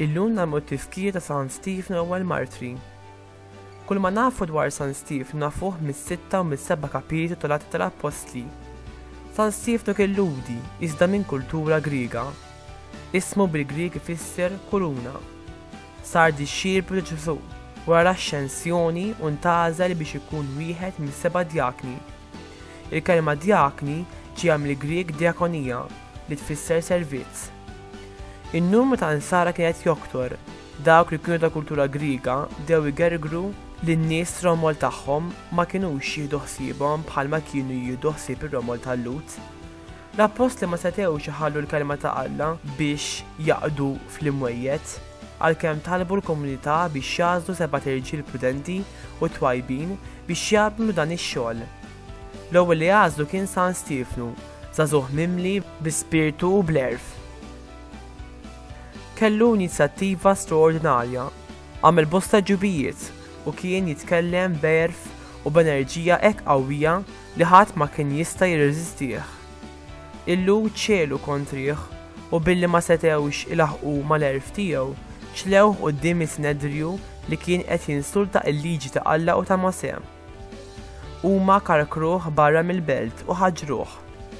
Illum nagħmlu t-tifkir ta' San Steve l-ewwel martri. Kull ma nafu dwar San Steve nafuh mis-sitta u mis-seba' kapitli tal-Atti tal-Appostli. San Steve nuk illudi iżda minn kultura Griega. Ismu bil-Grieg ifisser kuruna. Sar dixxiplu ta' Ġesù wara l-Axxensjoni u ntgħażel biex ikun wieħed mis-seba' djakni. Il-kelma djakni ġejja mill-Grieg diakonia, li tfisser servizz. In-numru ta' Nsara kien qed joktor, dawk li kienu ta' kultura Griega bdew igergru li n-nies fir-romol tagħhom ma kinux jieħdu ħsiebhom bħalma kienu jieħdu ħsieb ir-romol tal-Lhud. L-appostli ma setgħux iħallu l-Kelma ta' Alla biex jaqdu fl-imwejjed. Għalkemm talbu l-komunità biex jagħżlu sebat irġiel prudenti u twajbin biex jagħmlu dan ix-xogħol, l-ewwel li għażlu kien San Stiefnu, żagħżugħ mimli bi spirtu u bl-għerf. Kellu inizjattiva straordinarja, għamel bosta ġubijiet u kien jitkellem b'għerf u b'enerġija hekk qawwija Li ħadd ma kien jista' jirreżistih. Il-Lhud ċegħlu kontrih u billi ma setgħux ilaħħqu mal-għerf tiegħu, ċlewh quddiem is-Sinedriju li kien qed jinsulta l-liġi ta' Alla u ta' Mosè. Huma karkruh barra mill-belt u ħaġruh.